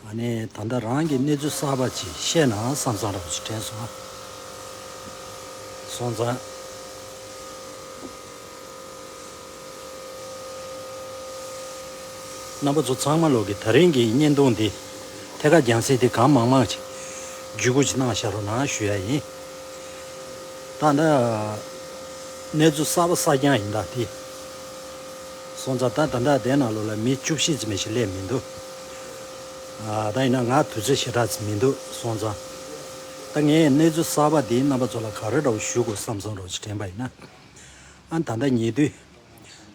ང་ནི་ད་ལྟ་རང་གི་གནས་ཚུལ་གསར་པ་ཅིག་བཤད་ན་བསམ་བསམ་རབ་བྱུང་དྲན་སོང། སོང་ཙང། རྣམ་པ་ཚོ་ཚང་མ་ལོག་གི་ད་རིང་གི་བརྙན་ཐུང་འདི་ཐད་ཀར་རྒྱང་བསྲིངས་ཏེ་གང་མང་མང་ཅིག་བརྒྱུད་སྐུར་ཅིག་གནང་ཤར་རོགས་གནང་ཞུ་ཡ་ཡིན། ད་ལྟ། གནས་ཚུལ་གསར་པ་གསར་རྐྱང་ཡིན་དང་དེ། སོང་ཙང་ད་ད་ལྟ་བདེ་ནང་ལོག་ལ་མི་བཅུ་བཞི་ཙམ་ཞིག་སླེབས་མི་འདུག། ད་ཡིན་ན་ང་དུས་ཚོད་ཞེ་དྲག་ཟིན་མི་འདུག་སོང་ཙང། ད་ངས་གནས་ཚུལ་གསར་པ་འདི་རྣམ་པ་ཚོ་ལ་ག་རེ་འདྲ་བོ་ཞུ་དགོས་བསམ་སོང་རོགས་ཞེས་དྲན་པ་ཡིན་ན། ད་ལྟ་ཉེ་དུས།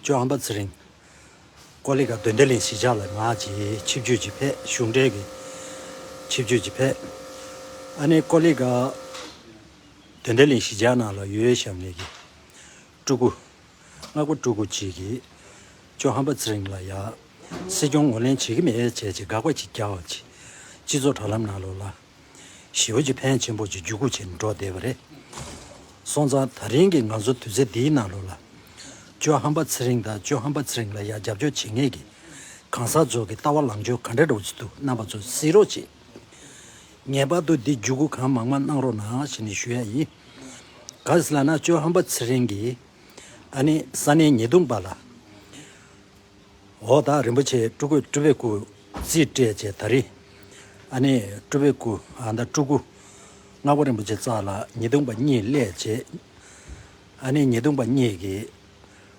ཇོ་ཨམ་པ་ཚེ་རིང། ཀོ་ལི་ཀ་དོན་ལྡན་ལས་གཞི་ཆགས་ལ་ང་ཅིའི་ཆིབས་བརྒྱུད་ཅིག་ཕེབས་གཞུང་འབྲེལ་གྱི་ཆིབས་བརྒྱུད་ཅིག་ཕེབས། ཨ་ནེ་ཀོ་ལི་ཀ། དོན་ལྡན་ལས་གཞི་ཆགས་ནང་ལ་ཡོད་ཞབས་ནས་ཀྱི། སྤྲུལ་སྐུ། སྔགས་པ་སྤྲུལ་སྐུ་གཅིག་གིས། ཅོ་ཧམ་པ་ཚེ་རིང་ལ་ཡག། སྲིད་སྐྱོང་ངོ་ལེན་བྱེད་ཀྱི་མེད་བྱས་ཅི་དགག་པ་གཅིག་རྒྱག་བ་གཅིག། སྤྱི་ཚོགས་དྲ་ལམ་ནང་ལོག་ལ། ཞི་བ་གཅིག་ཕན་ཆེན་པོ་གཅིག་རྒྱུད་སྐུ་བྱེད་འགྲོ་བསྡད་པ་རེད། སོང་ཙང་ད་རིང་གི་ང་ཚོ་དུས་ཚེ་འདིའི་ནང་ལོག་ལ། ཅོ་ཧམ་པ་ཚེ་རིང་དང་ཅོ་ཧམ་པ་ཚེ་རིང་ལ་ཡག་རྒྱབ་སྐྱོར་བྱེད་ངེས་ཀྱི། གང་ཟག་ཚོགས་ཀྱི་ལྟ་བ་ལང་སྤྱོད་ག་འདྲ་འགྲོ་བརྩི་འདུག་རྣམ་པ་ཚོ་གཟིགས་རོགས་གཅིག། ངེས་པར་དུ་འདི་འཇུག་སྒོ་གང་མང་མ་གནང་རོགས་གནང་ཞེས་ནི་ཞུ་ཡ་ཡིན། ག་ཟེ་ལ་ན་ཅོ་ཧམ་པ་ཚེ་རིང་གིས་ཨ་ནི་ས་གནས་ཉེས་རྡུང་པ་ལ། འོ་ད་རིན་པོ་ཆེའི་སྤྲུ་གུས་སྤྲུ་བའི་སྐུ་རྩིས་སྤྲད་ཅེས་ད་རི་ཨ་ནི་སྤྲུ་བའི་སྐུ་ཨ་ད་སྤྲུ་སྐུ་སྔགས་པ་རིན་པོ་ཆེ་བཙགས་ལ་ཉེས་རྡུང་པ་གཉིས་སླད་ཅེས་ཨ་ནི་ཉེས་རྡུང་པ་གཉིས་ཀྱིས།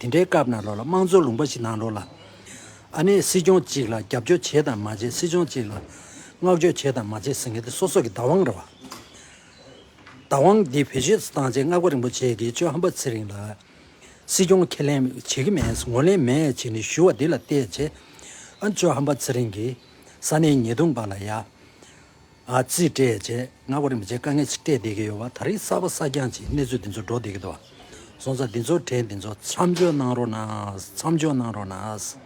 དེ་འདྲའི་སྐབས་ནང་ལོགས་ལ་དམངས་གཙོ་ལུང་པ་ཞིག་ནང་ལོགས་ལ། ཨ་ནི་སྲིད་སྐྱོང་གཅིག་ལ་རྒྱབ་སྐྱོར་བྱེད་དང་མ་བྱེད་སྲིད་སྐྱོང་གཅིག་ལ་བསྔགས་བརྗོད་བྱེད་དང་མ་བྱེད་ཟེར་མཁན་དེ་སོ་སོ་གི་བདག་དབང་རེད། བདག་དབང་འདི་བེད་སྤྱོད་བཏང་རྗེས་སྔགས་པ་རིན་པོ་ཆེ་གིས་གཅོད་ཧམ་པ་ཚེ་རིང་ལ། སྲིད་སྐྱོང་ཁས་ལེན་བྱེད་ཀྱི་མེད་ངོ་ལེན་མེད་བྱས་ནས་ཞུ་བ་འདི་ལ་བལྟས་རྗེས། ཨ་གཅོད་ཧམ་པ་ཚེ་རིང་གིས་ས་གནས་ཉེས་རྡུང་པ་ལ་ཡ། རྩིས་སྤྲད་རྗེས་སྔ་བར་མི་ཚེའི་དཀའ་ངལ་ཅིག་སྤྲད་བསྡད་ཀྱི་ཡོད་པ་ད་རེས་གསར་པ་གསར་རྐྱང་ཅིག་གནས་ཚུལ་འདི་ཚོ་སྒྲོག་བསྡད་ཀྱི་འདུག་བཟོ་རྩལ་འདི་ཚོ་དྲན་འདི་ཚོ་མཚམས་འཇོག་གནང་རོགས་གནང་མཚམས་འཇོག་གནང་རོགས་གནང་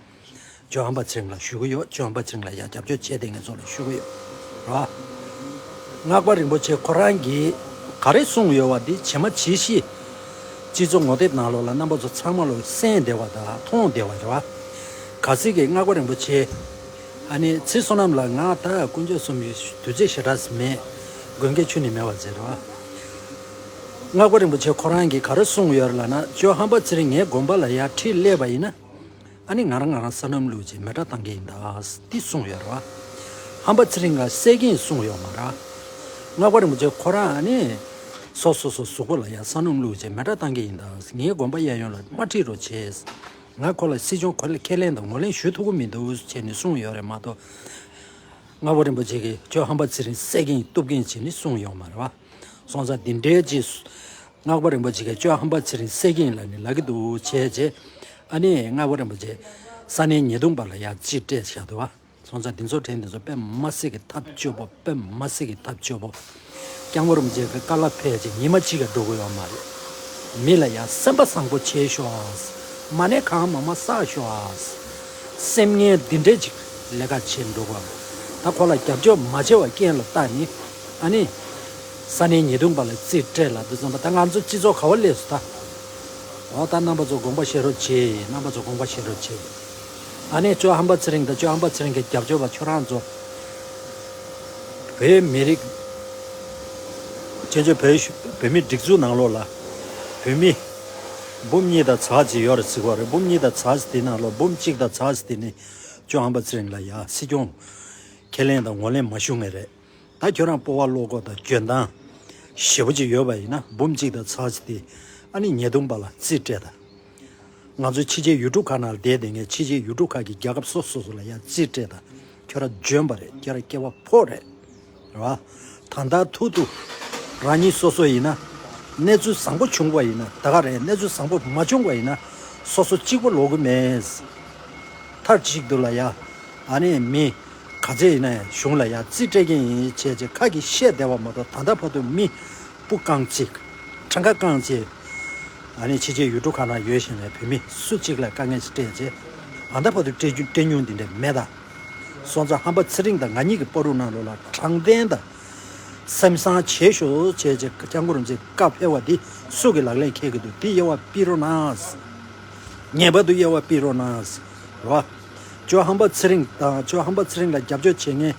ཇོ་ཨམ་པ་ཚེ་རིང་ལ་ཞུ་གི་ཡོད་ཇོ་ཨམ་པ་ཚེ་རིང་ལ་ཡང་རྒྱབ་སྐྱོར་བྱས་བསྡད་ངེད་ཚོ་ལ་ཞུ་གི་ཡོད་སྔགས་པ་རིན་པོ་ཆེ་ཁོ་རང་གིས་ག་རེ་གསུངས་ཡོད་བ་འདི་བྱེ་མ་བྱེ་བཞི་སྤྱི་ཚོགས་ངོ་དེབ་ནང་ལོག་ལ་རྣམ་པ་ཚོ་ཚང་མ་ལོག་གསན་བསྡད་བ་དང་མཐོང་བསྡད་བ་རེད་བ་ག་ཚིག་གིས་སྔགས་པ་རིན་པོ་ཆེ། ཨ་ནི་ཚེས་བསོད་ནམས་ལ་ངག་བདག་དཀོན་མཆོག་གསུམ་གྱི་བདུད་རྩི་ཞེ་དྲགས་སེ་མས། མགོན་དགེ་ཆོས་ནི་མེ་བ་མཛད་དོ། སྔགས་པ་རིན་པོ་ཆེ་ཁོ་རང་གིས་ག་རེ་གསུངས་ཡོད་ལ་ན་ཅོ་ཧམ་པ་ཚེ་རིང་ངའི་དགོན་པ་ལ་ཡར་ཁྲིད་སླེབས་པ་ཡིན་ན། ཨ་ནི་ང་རང་ང་རང་བསོད་ནམས་ལུགས་ཀྱི་མེ་སྒྲ་གཏང་གི་ཡིན་ཏདི་གསུངས་ཡོད་ར། ཧམ་པ་ཚེ་རིང་ལ་གསལ་གིན་གསུངས་ཡོད་མ་ར། སྔགས་པ་རིན་པོ་ཆེ་ཁོ་རང་ཨ་ནི། སོ་སོ་སོ་གཟུགས་པོ་ལ་ཡར་བསོད་ནམས་ལུགས་ཀྱི་མེ་སྒྲ་གཏང་གི་ཡིན་ཏངའི་དགོན་པ་གཡས་གཡོན་ལ་དམར་ཁྲིད་རོ་བྱས། ང་ཁོ་ལ་སྲིད་སྐྱོང་གོ་ལའི་ཁས་ལེན་དང་ངོ་ལེན་ཞུ་ཐུབ་ཀྱི་མི་འདུག་ཅེས་ནི་གསུངས་ཡོད་རེད་མ་གཏོགས། རྔ་བོ་རིན་པོ་ཆེ་གིས་ཁྱོད་ཧམ་པ་ཚེ་རིང་བསད་གིན་གཏུབ་གིན་ཅེས་ནི་གསུངས་ཡོད་མ་རེད་བ། སོང་ཙང་འདི་འདྲའི་རྗེས་སུ། རྔ་བོ་རིན་པོ་ཆེ་གིས་ཁྱོད་ཧམ་པ་ཚེ་རིང་བསད་གིན་ལ་ནི་ལག་གི་འདུག་བྱས་རྗེས། ཨ་ནི་རྔ་བོ་རིན་པོ་ཆེས་ས་གནས་ཉེས་རྡུང་པ་ལ་ཡང་ཅི་སྤྲད་བཞག་འདུག་བ། ཚོང་ཚ་འདི་ཚོ་དྲན་འདི་ཚོ་པད་མ་སྲས་ཀྱི་ཐབས་སྤྱོད་པོ་པད་མ་སྲས་ཀྱི་ཐབས་སྤྱོད་པོ། རྐྱང་བོ་རུ་མཇལ་ཁ་དཀར་ལ་ཕེབས་རྗེས་ཉི་མ་གཅིག་ལ་འགྲོ་དགོས་ཡོད་མ་རེད། མི་ལ་ཡང་སེམས་པ་བཟང་པོ་བྱེད་ཤོག་ཨ། མ་ནས་གང་མང་མ་བསགས་ཤོག་ཨ། སེམས་ངལ་འདི་འདྲས་ཅིག་ལས་ཀ་བྱེད་འགྲོ་དགོས་ཨ། ད་ཁོ་ལ་རྒྱབ་སྐྱོར་མ་བྱས་བ་རྐྱེན་ལ་བལྟ་ནི་ཨ་ནི། ས་གནས་ཉེས་རྡུང་པ་ལ་རྩིས་སྤྲད་ལ་འདི་ཙམ་པ་ད་ང་ཚོ་སྤྱི་ཚོགས་ག་བ་ལས་སུ་ད། འོ་ད་རྣམ་པ་ཚོ་དགོངས་པ་བཞེས་རོགས་བྱེད་རྣམ་པ་ཚོ་དགོངས་པ་བཞེས་རོགས་བྱེད། ཨ་ནེ་ཅོ་ཧམ་པ་ཚེ་རིང་དང་ཅོ་ཧམ་པ་ཚེ་རིང་གི་རྒྱབ་སྐྱོར་བ་ཁྱོད་རང་ཚོ། བོད་མི་རིགས། བཙན་བྱོལ་བོད་གཞུང་བོད་མིའི་སྒྲིག་འཛུགས་ནང་ལོགས་ལ། བོད་མི། འབུམ་གཉིས་དང་ཚ་གཅིག་ཡོད་རེད་ཟིག་བ་རེད་འབུམ་གཉིས་དང་ཚ་གཅིག་དེ་ནང་ལོགས་འབུམ་གཅིག་དང་ཚ་གཅིག་དེ་ནི། ཅོ་ཧམ་པ་ཚེ་རིང་ལ་ཡང་སྲིད་སྐྱོང། ཁས་ལེན་དང་ངོ་ལེན་མ་ཞུ་ངེས་རེད། ད་ཁྱོད་རང་སྤོ་བ་བློ་ཁོག་དང་འཇོན་ཐང་ཞེ་བོ་ཅིག་ཡོད་པ་ཡིན་ན་འབུམ་གཅིག་དང་ཚར་བྱེད་དེ་ཨ་ནི་ཉེས་རྡུང་པ་ལ་རྩིས་སྤྲད་དང། ང་ཚོ་ཕྱི་རྒྱལ་ཡུལ་གྲུ་ཁག་ནང་ལ་བསྡད་དེ་ངས་ཕྱི་རྒྱལ་ཡུལ་གྲུ་ཁག་གི་རྒྱལ་ཁབ་སོ་སོ་སོ་ལ་ཡང་རྩིས་སྤྲད་དང་ཁྱོད་རང་འཇོན་པ་རེད་ཁྱོད་རང་སྐྱེ་བ་ཕོ་རེད། རེད་བ། ད་ལྟ་ཐུག་ཐུག་རང་ཉིད་སོ་སོ་ཡིན་ན་གནས་ཚུལ་བཟང་པོ་བྱུང་བ་ཡིན་ན་ད་ག་རེད་གནས་ཚུལ་བཟང་པོ་མ་བྱུང་བ་ཡིན་ན་སོ་སོ་གཅིག་པོ་ལོག་གི་མེད། མཐར་གཅིག་ཏུ་ལ་ཡ། ཨ་ནི་མི་ག་ཚད་ཡིན་ན་ཡང་གཞུང་ལ་ཡང་རྩིས་སྤྲད་མཁན་ཡིན་བྱས་རྗེས་ཁག་གིས་བཤད་བདེ་བ་མ་གཏོགས་ད་ལྟ་བར་དུ་མི་སྤུ་རྐང་གཅིག། ཁྲ་མཁའ་རྐང་གཅིག། ཕྱི་རྒྱལ་ཡུལ་གྲུ་ཁག་ན་ཡོད་བཞིན་པའི་བོད་མི་སུ་གཅིག་ལ་དཀའ་ངལ་སྤྲད་རྗེས་ད་ལྟ་བར་དུ་སྤྲད་མྱོང་དེ་འདྲ་མེད། སོང་ཙང་ཧམ་པ་ཚེ་རིང་དང་ང་གཉིས་ཀྱི་སྤོ་རུ་གནང་ལོ་ལ་དྲང་བདེན་དང། སེམས་བཟང་བྱེད་ཤོག་བྱས་རྗེས་སྐྱབས་མགོར་འཛིན་དཀའ་འཕེལ་བ་འདི་སུ་གི་ལག་ལེན་ཁེལ་གི་འདུག་འདི་དབྱེ་བ་སྤིས་རོགས་གནང། ངེས་པར་དུ་དབྱེ་བ་སྤིས་རོགས་གནང། ཇོ་ཧམ་པ་ཚེ་རིང་དང་ཇོ་ཧམ་པ་ཚེ་རིང་ལ་རྒྱབ་སྐྱོར་བྱེད་མཁན།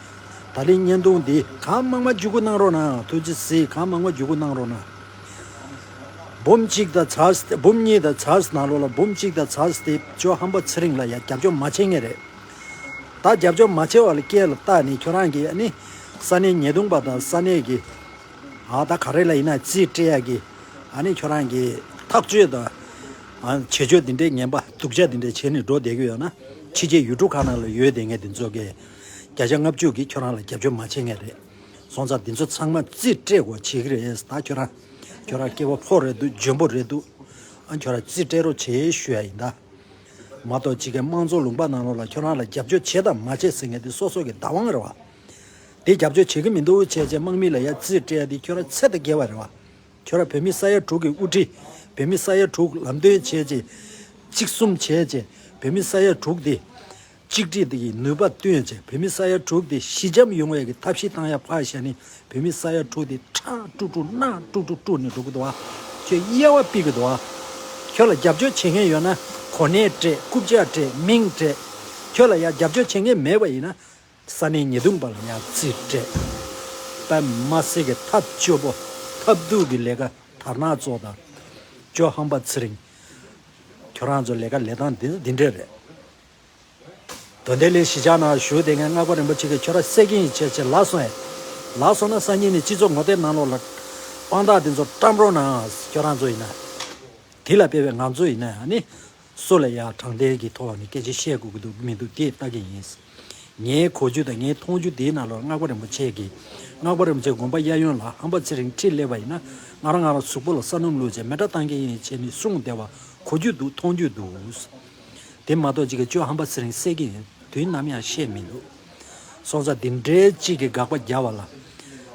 ད་ལིས་བརྙན་ཐུང་འདི་གང་མང་མ་བརྒྱུད་ཁུག་གནང་རོགས་གནང་ཐུགས་རྗེ་གཟིགས་གང་མང་མ་བརྒྱུད་ཁུག་གནང་རོགས་གནང། འབུམ་གཅིག་དང་ཚར་འབུམ་གཉིས་དང་ཚར་གནང་རོགས་ལ་འབུམ་གཅིག་དང་ཚར་སྟེ་ཇོ་ཧམ་པ་ཚེ་རིང་ལ་ཡང་རྒྱབ་སྐྱོར་མ་བྱེད་མཁན་རེད། ད་རྒྱབ་སྐྱོར་མ་བྱེད་བ་ལ་སྐྱེལ་ལ་སྟག་ནི་ཁྱོད་རང་གི་ནི་ས་གནས་ཉེས་རྡུང་པ་དང་ས་གནས་ཀྱི་ད་ག་རེ་ལ་ཡིན་ན་རྩིས་སྤྲད་ཡག་གི་ནི་ཁྱོད་རང་གི་ཐག་གཅོད་དང། བྱེད་སྤྱོད་འདི་འདྲའི་ངན་པ་སྡུག་ཅག་འདི་འདྲ་བྱས་ནས་འགྲོ་བསྡད་ཀྱི་ཡོད་ན། ཕྱི་རྒྱལ་ཡུལ་གྲུ་གང་ན་ལ་ཡོད་དེ་ངས་འདི་ཚོ་གས། བརྒྱ་ཆ་ལྔ་བཅུ་གིས་ཁྱོད་རང་ལ་རྒྱབ་སྐྱོར་མ་བྱེད་ངེས་རེད། སོང་ཙང་འདི་ཚོ་ཚང་མ་རྩིས་སྤྲད་གོ་བྱེད་ཀྱི་རེད་ད་ཁྱོད་རང། ཁྱོད་རང་སྐྱེ་བ་ཕོ་རེད་འདུག་འཇོན་པོ་རེད་འདུག། ཁྱོད་རང་རྩིས་སྤྲད་རོགས་བྱེད་ཞུ་ཡ་ཡིན་ད། མ་གཏོགས་ཕྱི་རྒྱལ་དམངས་གཙོ་ལུང་པ་ནང་ལོག་ལ་ཁྱོད་རང་ལ་རྒྱབ་སྐྱོར་བྱེད་དང་མ་བྱེད་ཟེར་ངེས་འདི་སོ་སོ་གི་བདག་དབང་རེད་བ། འདི་རྒྱབ་སྐྱོར་བྱེད་ཀྱི་མི་འདུག་བྱས་བྱས་དམག་མི་ལ་ཡ་རྩིས་སྤྲད་ཡ་འདི་ཁྱོད་རང་ཚད་ད་བརྒལ་བ་རེད་བ། ཁྱོད་རང་བོད་མི་ས་ཡ་དྲུག་གི་དབུ་ཁྲིད། བོད་མི་ས་ཡ་དྲུག་ལམ་སྟོན་བྱས་རྗེས། གཅིག་གསུམ་བྱས་རྗེས་བོད་མི་ས་ཡ་དྲུག་དེ། གཅིག་སྒྲིལ་གྱི་ནུས་པ་བཏོན་རྗེས་བོད་མི་ས་ཡ་དྲུག་དེ་ཞི་འཇམ་ཡོང་བའི་གི་ཐབས་ཤིག་བཏང་ཡ་ཕར་བཞག་ནི་བོད་མི་ས་ཡ་དྲུག་དེ་ཁྲག་དཀྲུག་དཀྲུག་རྣག་དཀྲུག་དཀྲུག་དཀྲུག་ནས་འགྲོ་གི་འདུག་བ། ཁྱོད་དབྱེ་བ་སྤིག་གི་འདུག་བ། ཁྱོད་ལ་རྒྱབ་སྐྱོར་བྱེད་མཁན་ཡོད་ན་གོ་གནས་སྤྲད་རྐུབ་ལྕག་སྤྲད་མིང་སྤྲད། ཁྱོད་ལ་ཡང་རྒྱབ་སྐྱོར་བྱེད་མཁན་མེད་པ་ཡིན་ན། ས་ནི་ཉེས་ལྟུང་པར་ཡང་རྩིས་སྤྲད། པདྨ་སྲས་ཀྱི་ཐབས་སྤྱོད་པོ། ཐབས་རྡུགས་ཀྱི་ལས་ཀ་དར་ནག་གཙོ་དང། ཇོ་ཧང་པ་ཚེ་རིང། ཁྱོད་རང་ཚོའི་ལས་ཀ་ལས་སྟངས་འདི་འདྲས་རེད། དོན་དེ་ལས་གཞི་ཆགས་ན་ཞུ་བདེ་མཁན་སྔགས་པ་རིན་པོ་ཆེ་གི་ཁྱོད་ར་སེ་གིན་ཡི་ཆད་ཆད་ལགས་སོ་ཨེ། ལགས་སོ་ན་སང་ཉིན་ནས་སྤྱི་ཚོགས་ངོ་བསྟེར་ནང་ལོག་ལ། དཔང་རྟགས་འདི་ཚོ་བཀྲམ་རོགས་གནང་ཨང་ཁྱོད་རང་ཚོ་ཡིན་ན། དེ་ལ་དཔེ་བའི་ང་ཚོ་ཡིན་ན་ནི། སུ་ལ་ཡང་དྲང་བདེན་གྱི་ཐོག་ནས་སྐད་ཆ་བཤད་དགོས་ཀྱི་འདུག་མི་འདུག་དེ་ལྟ་གི་ཡིན། ངའི་གོ་རྒྱུ་དང་ངའི་མཐོང་རྒྱུ་དེའི་ནང་ལོར་སྔགས་པ་རིན་པོ་ཆེ་གིས། སྔགས་པ་རིན་པོ་ཆེ་དགོངས་པ་གཡས་གཡོན་ལ་ཧམ་པ་ཚེ་རིང་ཁྲིད་སླེབས་པ་ཡིན་ན། ང་རང་ང་རང་གཟུགས་པོ་ལ་བསམ་རྣམ་ལུས་ཅན་མེ་དགྲ་གཏང་མཁན་ཡིན་ཅེས་ནི་གསུངས་བསྡད་པ་གོ་རྒྱུ་འདུག་མཐོང་རྒྱུ་འདུག། དེ་མ་གཏོགས་ཅི་གི་སྤྱོད་ཧམ་པ་ཚེ་རིང་བསད་ཀྱི་ཡིན་དུས་ནམ་ཡང་བཤད་མི་འདུག། སྲོག་རྩ་འདི་འདྲའི་གཅིག་གི་དགག་པ་རྒྱག་བ་ལ།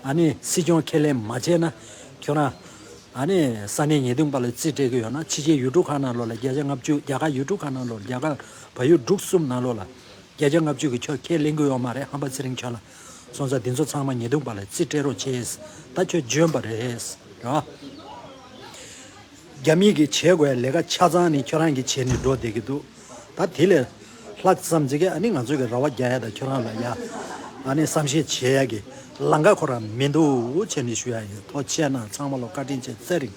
ཨ་ནི་སྲིད་སྐྱོང་ཁས་ལེན་མ་བྱས་ན། ཁྱོད་རང། ཨ་ནི་ས་གནས་ཉེས་རྡུང་པ་ལ་རྩིས་སྤྲད་གི་ཡོད་ན་ཕྱི་རྒྱལ་ཡུལ་གྲུ་ཁག་ནང་ལོགས་ལ་བརྒྱ་ཆ་ལྔ་བཅུ་རྒྱ་གར་ཡུལ་གྲུ་ཁག་ནང་ལོགས་རྒྱ་གར་བ་ཡུལ་དྲུག་གསུམ་ནང་ལོགས་ལ། བརྒྱ་ཆ་ལྔ་བཅུ་གི་ཁྱོད་ཁས་ལེན་གི་ཡོད་མ་རེད་ཧམ་པ་ཚེ་རིང་ཁྱོད་ལ། སྲོག་རྩ་འདི་ཚོ་ཚང་མ་ཉེས་རྡུང་པ་ལ་རྩིས་སྤྲད་རོགས་བྱས། ད་ཁྱོད་འཇོན་པ་རེད། རེད་བ། རྒྱ་མི་གིས་བྱེད་དགོས་ལས་ཀ་ཆ་ཚང་ནི་ཁྱོད་རང་གིས་བྱས་ནས་འགྲོ་བསྡད་ཀྱི་འདུག། ད་དེ་ལས་ལྷག་བསམ་བྱེད་མཁན་ཨ་ནི་ང་ཚོ་གི་ར་བ་རྒྱག་ཡ་དང་ཁྱོད་རང་ལ་ཡ་ཨ་ནི་བསམ་ཤེས་བྱེད་ཡ་གི་ལང་ཀ་ཁོ་ར་མི་འདུག་ཆེ་ནི་ཞུ་ཡ་ཡོད་ཐོ་ཆེ་ན་ཚང་མ་ལོ་བཀའ་དྲིན་ཆེ་བསེ་རིང།